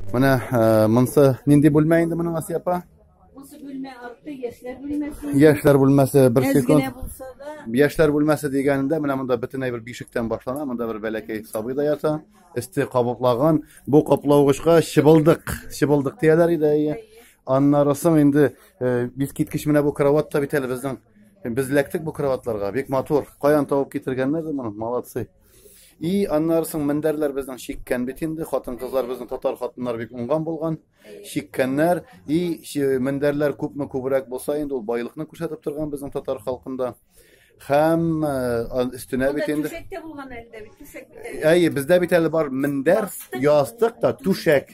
Менә э, монсы нинди бүлмә инде моның Асия апа? Монсы бүлмә арты яшьләр бүлмәсе. Яшьләр бүлмәсе бер секунд. Яшьләр бүлмәсе дигәнендә менә монда бөтенләй бер бишектән башлана, монда бер бәләкәй сабый да ята, өсте кабыклаган. Бу каплавыгычка чыбылдык, чыбылдык дияләр иде. Иә. Аннары соң инде э, бик киткеч менә бу кровать та бит әле безнең. Без ләктек бу кроватларга, бик матур. Каян табып китергәннәр моны? Молодцы. И аннары соң мендәрләр безнең чиккән бит инде, хатын-кызлар безнең татар хатыннары бик уңган булган. Чиккәннәр и мендәрләр күпме күбрәк булса инде ул байлыкны күрсәтеп торган безнең татар халкында. Һәм өстенә бит инде. Әйе, бездә бит әле бар мендәр, ястык та, түшәк.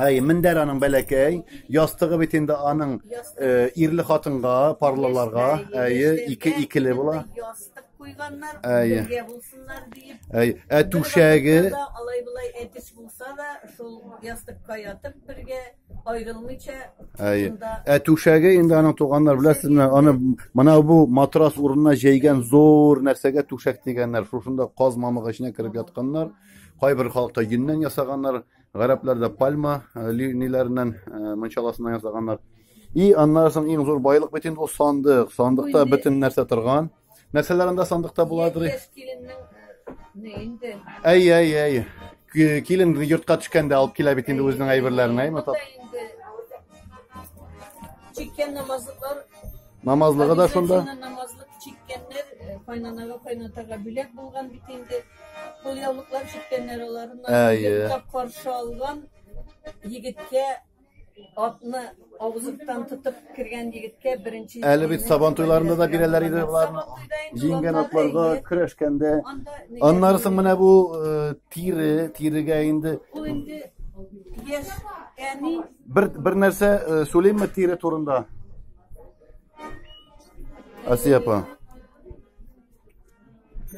Әй, мендәр аның бәләкәй, ястыгы бит инде аның э, ирле хатынга, парлыларга, әйе, ике икеле була. Ястык куйганнар, әйе. бергә булсыннар диеп. Әйе, ә түшәге алай булай әтис булса да, шул ястыкка ятып бергә аерылмыйча. Әйе. Ә түшәге инде аның туганнар беләсезме, аны менә бу матрас урынына җәйгән зур нәрсәгә түшәк дигәннәр. Шушында каз мамыгы эченә кереп ятканнар. Кайбер халыкта йөннән ясаганнар. Гарәпләр дә пальма э, линияләреннән э, мунчаласыннан ясаганнар. И аннан соң иң зур байлык бит инде ул сандык. Сандыкта Инде. бөтен нәрсә торган. Нәрсәләр анда сандыкта буладыр? Яшь киленнең не инде. Әй, әй, әй. Ки- Килен йортка төшкәндә алып килә бит инде үзенең әйберләрен, әйме? Монда инде Чиккән намазлыклар Намазлыгы да шунда. Хәдисәсеннән намазлык чиккәннәр э, кайнанага кайнатага бүләк булган бит инде. Кулъяулыклар чиккәннәр алар. Әйе. Йоклап каршы алган егеткә атны авызыктан тотып кергән егеткә беренче Әле бит сабан туйларында да бирәләр иде боларны. Җиңгән атларга көрәшкәндә. Аннары соң менә бу э, тире, тирегә инде Ул инде яшь әни бер бер нәрсә э, сөйлимме тире турында? Асия апа.